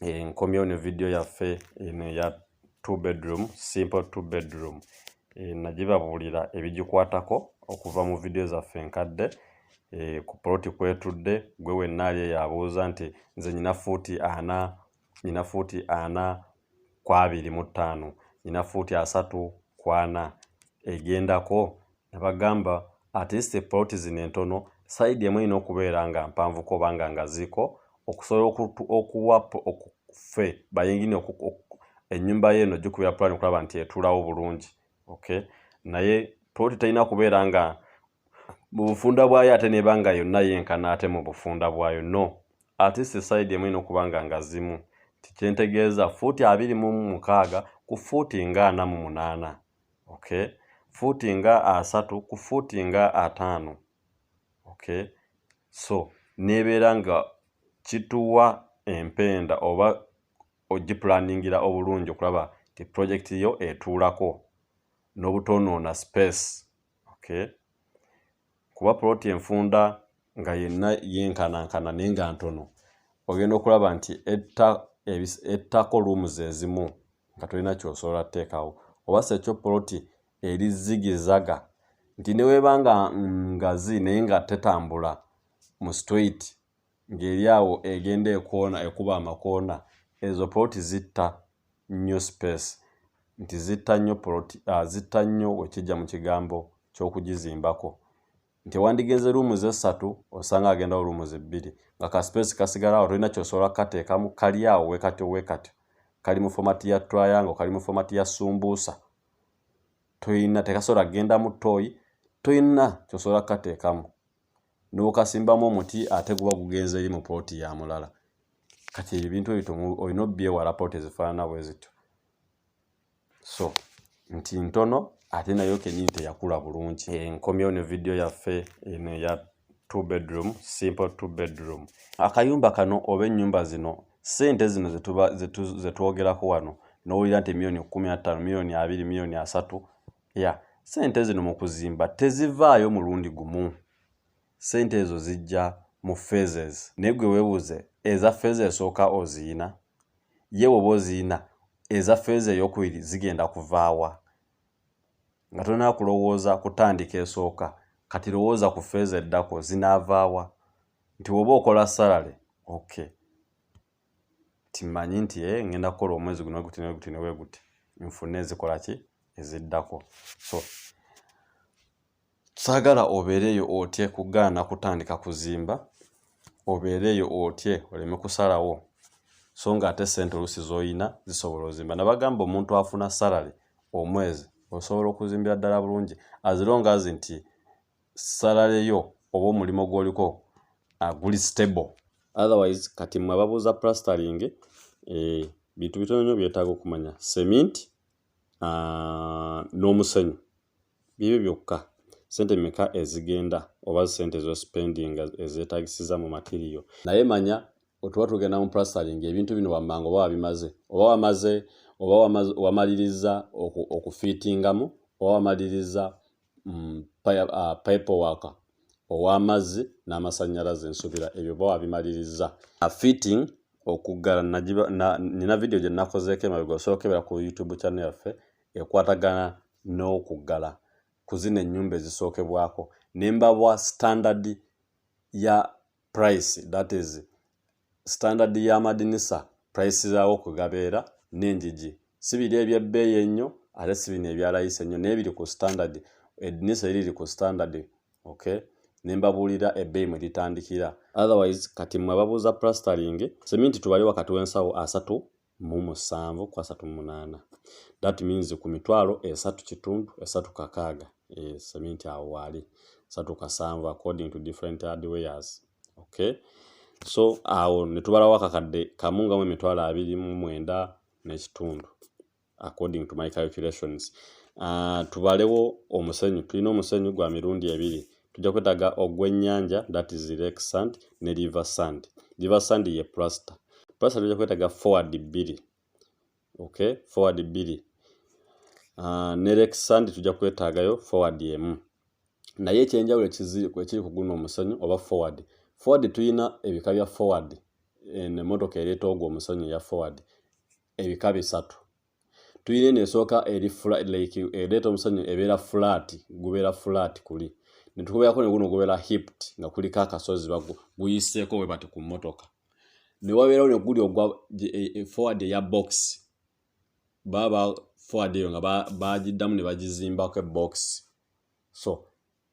eh, nkomyewo ne vidiyo yaffe eno eya two bedroom simple two bedroom eh, nagibabuulira ebigikwatako okuva mu vidiyo zaffe enkadde eh, ku poloti kwetudde gwe wenna ali eyabuuza nti nze nyina fuuti ana nyina fuuti ana kwabiri mu ttaano nyina fuuti asatu kwana egendako nebagamba at least plot zino entono side emu erina okubeera nga mpanvu koba nga ngaziiko okusobola okuwa okufe bayingini enyumba ye eno gikubira plan okulaba nti etulawo bulungi okay naye plot terina kubeera nga mubufunda bwayo ate neba nga yonna yenkana ate mubufunda bwayo no at least side emu erina okuba nga ngazimu tikyentegeeza fuuti abiri mu mukaaga ku fuuti nga ana mu munaana okay fuuti nga asatu ku fuuti nga ataano okay so nebeera nga kituwa empenda oba ogipulaningira obulungi okulaba ti project yo etuulako n'obutoonoona space okay kuba poloti enfunda nga yenna yenkanankana naye nga ntono ogenda okulaba nti ettako luumu zezimu nga tolina kyosobola teekawo oba sekyo poloti eri zigizaga nti neweba nga ngazi naye nga tetambula mu street ng'eri awo egenda ekoona ekuba amakoona ezo poloti zitta nnyo space nti zitta nnyo poloti ah, zitta nnyo wekijja mu kigambo ky'okugizimbako nti wandigenze ruumu ze ssatu osanga agendawo ruumu ze bbiri nga ka space kasigalawo tolina kyosobola kukateekamu kali awo wekatyo wekatyo kali mu fomati ya triangle kali mu fomati ya sumbuusa toyina tekasobola kugenda mu toyi toyina kyosobola kukateekamu n'okasimbamu omuti ate guba gugenze eri mu pooti ya mulala kati ebintu ebito olina obyewala pooti ezifaanana bwe zityo so nti ntono ate nayo kenyini teyakula bulungi enkomyewo ne vidiyo yaffe eno eya two bedroom simple two bedroom akayumba kano oba ennyumba zino sente zino zetwogerako wano nowulira nti emiliyoni kumi attaano miliyoni abiri miliyoni asatu ya sente zino mu kuzimba tezivaayo mulundi gumu sente ezo zijja mu phases naye gwe weebuuze eza feeza esooka oziyina ye woba oziyina eza feeza eyokubiri zigenda kuvaawa nga tolina kulowooza kutandika esooka kati lowooza ku feeza eddako zinaavaawa nti woba okola salale okay timanyi nti e ngenda kukola omwezi guno weguti neweguti neweguti nfune ezikola ki eziddako so saagala obeereeyo otye kugaana kutandika kuzimba obeereeyo otye oleme kusalawo so nga ate sente oluusi zolina zisobola ozimba nabagamba omuntu afuna salary omwezi osobola okuzimbira ddala bulungi azirongazi nti salary yo oba omulimo gwoliko aguli uh, stable otherwise kati mwe ababuuza plastering eh, bintu bitono nyo byetaaga okumanya cement uh, n'omusenyu bibyo byokka sente meka ezigenda oba sente zospending ezetagisiza mu matiriyo naye manya otuba tugenda mu plastering ebintu bino wammanga oba wabimaze oba wamaze oba wamaliriza okufitingamu oba wamaliriza mm, uh, pipe worker ow'amazzi n'amasannyalaze nsubira ebyo ba wabimalirizza fitting okuggala nina vidiyo gye nakozeeko emabega osobola okukebera ku youtube channel yaffe ekwatagana n'okuggala ku zino ennyumba ezisookebwako ne mbawa standard ya price that is Standard y'amadinisa, price zaawo kwe gabeera n'enjiji si biri eby'ebbeeyi ennyo ate si bino ebya layisi ennyo naye biri ku standard edinisa eri liri ku standard okay ne mbabuulira ebbeeyi mwe litandikira otherwise kati mmwe ababuuza plastering seminti tubali wakati w'ensawo asatu mu musanvu ku asatu mu munaana that means ku mitwalo esatu kitundu esatu kakaaga seminti awo waali esatu kasanvu according to different hardwares okay so awo ne tubalawo akakadde kamu nga mu emitwalo abiri mu mwenda n'ekitundu according to my calculations uh, tubalewo omusenyu tulina omusenyu gwa mirundi ebiri tujja kwetaaga ogw'ennyanja that is lake sand ne river sand river sand ye plaster plaster tujja kwetaaga forward bbiri okay forward bbiri uh, ne lake sand tujja kwetaagayo forward emu naye ekyenjawulo ekiri ku guno omusenyu oba forward forward tulina ebika bya forward emotoka ereeta ogwo omusenyu eya forward ebika bisatu tuyina eno esooka eri like ereeta omusanyu ebeera flat gubeera flat kuli netukubeerako neguno gubeera hipt nga kuliko akasozi guyiseeko we bati ku mmotoka newabeerawo neguli ogwa e, e, forward eya box baba forward eyo nga bagiddamu ne bagizimbako ebox so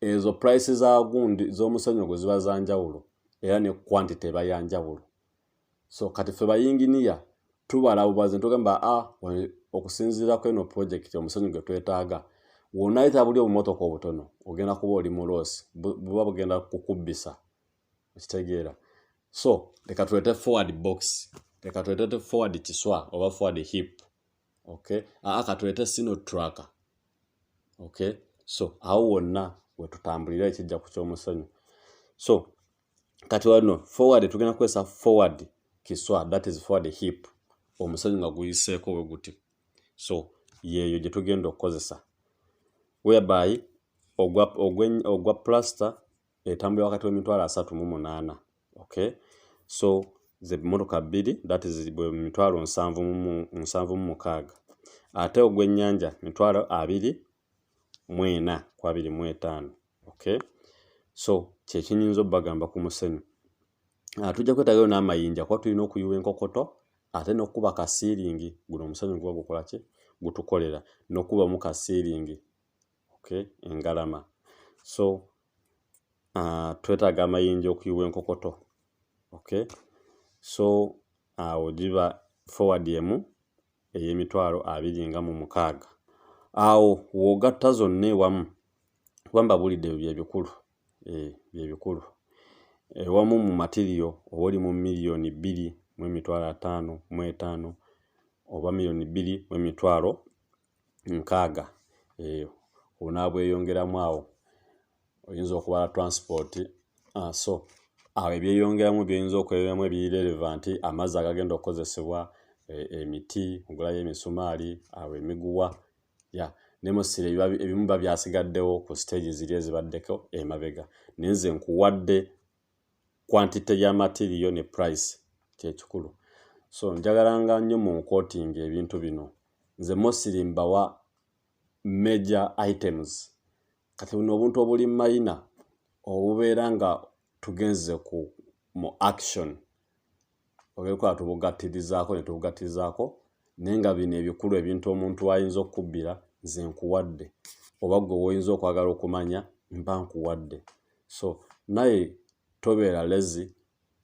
ezo price za gundi z'omusonyo gwe ziba za njawulo era ne quantity eba ya njawulo so kati ffe bayinginiya tubala bubazi ntugamba a ah, okusinziira ku eno pulojekiti omusonyi gwe twetaaga wonayita buli obumotoka obutono ogenda kuba oli muloosi buba bugenda kukubbisa okitegeera so leka tulete forward box leka tulete forward kiswa oba forward hip okay aa katulete sino tracker okay so awo wonna wetutambulira ekijja ku kyomusonyi so kati wano forward tugenda kukozesa forward kiswa that is forward hip omusonyi nga guyiseeko we guti so yeeyo gye tugenda okukozesa whereby ogwa, ogwa, ogwa plaster etambulira wakati w'emitwalo asatu mu munaana okay so ze mmotoka bbiri that is bwe mitwalo nsanvu mu nsanvu mu mukaaga ate ogw'ennyanja mitwalo abiri mu ena ku abiri mu etaano okay so kyekinyinza obagamba ku musenyu ah, tujja kwetagayo n'amayinja kuba tulina okuyuwa enkokoto ate n'okukuba kasiiringi guno omusenyu guba gukola ki gutukolera n'okubamu kasiiringi okay engalama so uh, twetaaga amayinja okuyiwa enkokoto okay so awo uh, giba forward emu ey'emitwalo abiri nga mu mukaaga awo w'ogatta zonna ewamu kuba mbabuulidde ebyo byebikulu eh, byebikulu ewamu mu matiriyo oba oli mu miliyoni bbiri mu emitwalo ataano mu etaano oba miliyoni bbiri mu emitwalo nkaaga eh, onaabweyongeramu awo oyinza okubala transport ah, so awo ebyeyongeramu byoyinza okweyongeramu ebiri relevant amazzi agagenda okukozesebwa eh, emiti ogulayo emisumaali awo emiguwa ya nemusire ebimu ba byasigaddewo ku stage ziri ezibaddeko emabega naye nze nkuwadde quantity ya material ne price kyekikulu so njagala nga nnyo mu nkotinga ebintu bino nze mosiri mbawa major items kati buno obuntu obuli mayina obubeera nga tugenze ku mu action obeekola tubugattirizaako ne tubugattirizaako naye nga bino ebikulu ebintu omuntu ayinza okukubbira nze nkuwadde oba gwe woyinza okwagala okumanya mba nkuwadde so naye tobeera lezi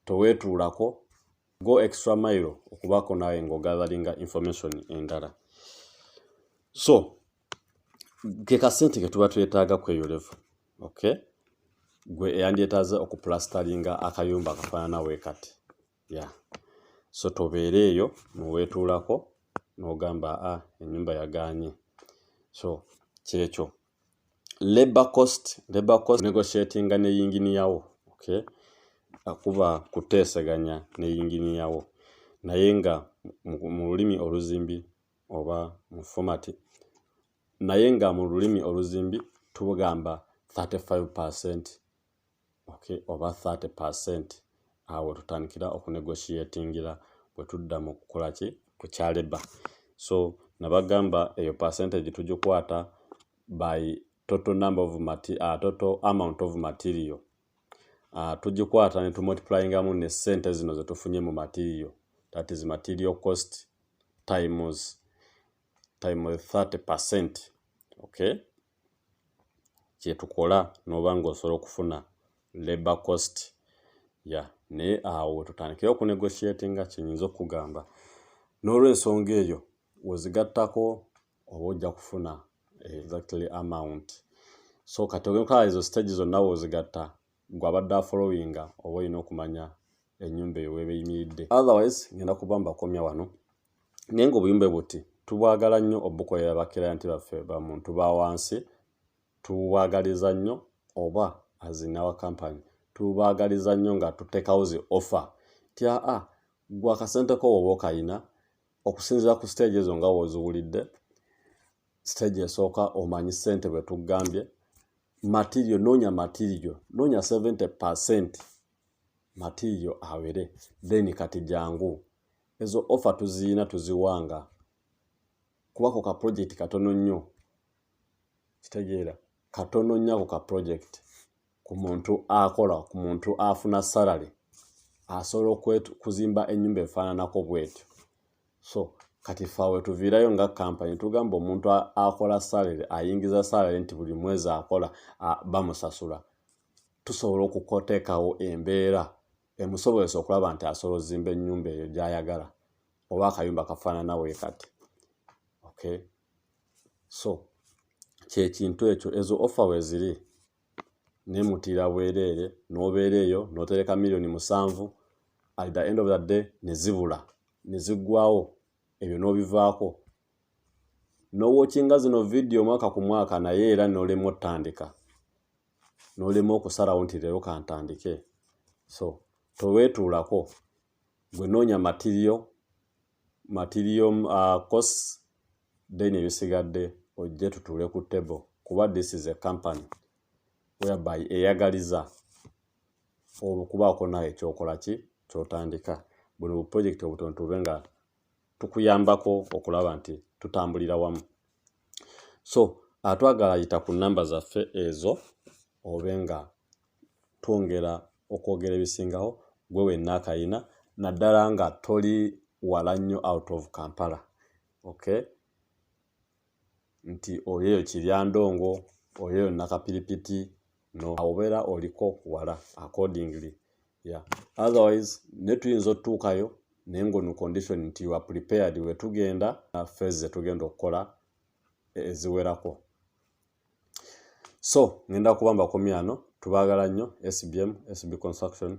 toweetuulako go extra mile okubaako naawe ngaogatharinga information endala so ke kasente ke tuba twetaaga kweyolevu okay gwe eyandyetaaze okuplastaringa akayumba akafaanana we kati ya yeah. so tobeera eyo neweetuulako n'ogamba a ah, ennyumba yagaanye so kyekyo labor cost labor cost negotiatinga ne yinginiyawo okay akuba kuteeseganya ne yinginiyawo naye nga mu lulimi oluzimbi oba mu fomati naye nga mu lulimi oluzimbi tubugamba 35 percent okay oba 30 percent awo tutandikira okunegotiatingira bwe tudda mu kukola ki ku kyaleba so nabagamba eyo percentage tugikwata by total number of mati, uh, total amount of material uh, tugikwata ne tumultiplyingamu ne sente zino zetufunye mu material that is material cost times time 30 percent okay kyetukola noba nga osobola okufuna labor cost ya yeah. naye awo tutandikire okunegotiatinga kyenyinza okugamba n'olwensonga eyo wezigattako oba ojja kufuna exactly amount so kati ogenkola ezo stage zonna weozigatta gwe abadde afollowinga oba olina okumanya enyumba eyo weeba eyimiridde otherwise ngenda kuba mbakomya wano naye nga obuyumba buti tubwagala nnyo obukolera bakirayanti baffe bamuntu ba wansi tubwagaliza nnyo oba azinawa kampany tubwagaliza nnyo nga tutekawo zi offer tya a ah, gwe akasente ko woba okayina okusinzira ku siteegi ezo nga woziwulidde siteegi esooka omanyi ssente bwe tugambye matirio noonya matirio noonya 70 percent matirio awere then kati jangu ezo offa tuziyina tuziwanga kubako ka pulojekiti katono nnyo kitegeera katono nnyo ako ka pulojekiti ku muntu akola ku muntu afuna salary asobola okuzimba enyumba efaananako bwetyo so kati faawe tuviirayo nga kampany tugamba omuntu akola salary ayingiza salary nti buli mwezi akola bamusasula tusobola okukoteekawo embeera emusobozesa okulaba nti asobola ozimba enyumba eyo gyayagala oba akayumba kafaanana we kati okay so kyekintu ekyo ezo offer weziri nemutira bwereere nobeera eyo notereka millioni musanvu at the end of the day nezibula neziggwawo ebyo nobivaako nowokinga zino vidiyo omwaka ku mwaka naye era nolema otandika nolema okusalawo nti leero kantandike so towetuulako gwe noonya matiriyo material uh, costs then ebisigadde ojje tutuule ku table kuba this is a company whereby eyagaliza okubaako nawe ekyokola ki kyotandika buno buprojekiti obutono tube nga tukuyambako okulaba nti tutambulira wamu so atwagala yita ku namba zaffe ezo obe nga twongera okwogera ebisingawo gwe wenna akayina naddala nga toli wala nnyo out of kampala okay nti oyeyo kiryandongo oyeyo nakapiripiti no awobeera oliko wala accordingly yeah. otherwise ne tuyinza otutuukayo naye nga onu condition nti wa prepared wetugenda fes zetugenda okukola eziwerako so ngenda kuba mbakomyano tubagala nnyo sbm sb construction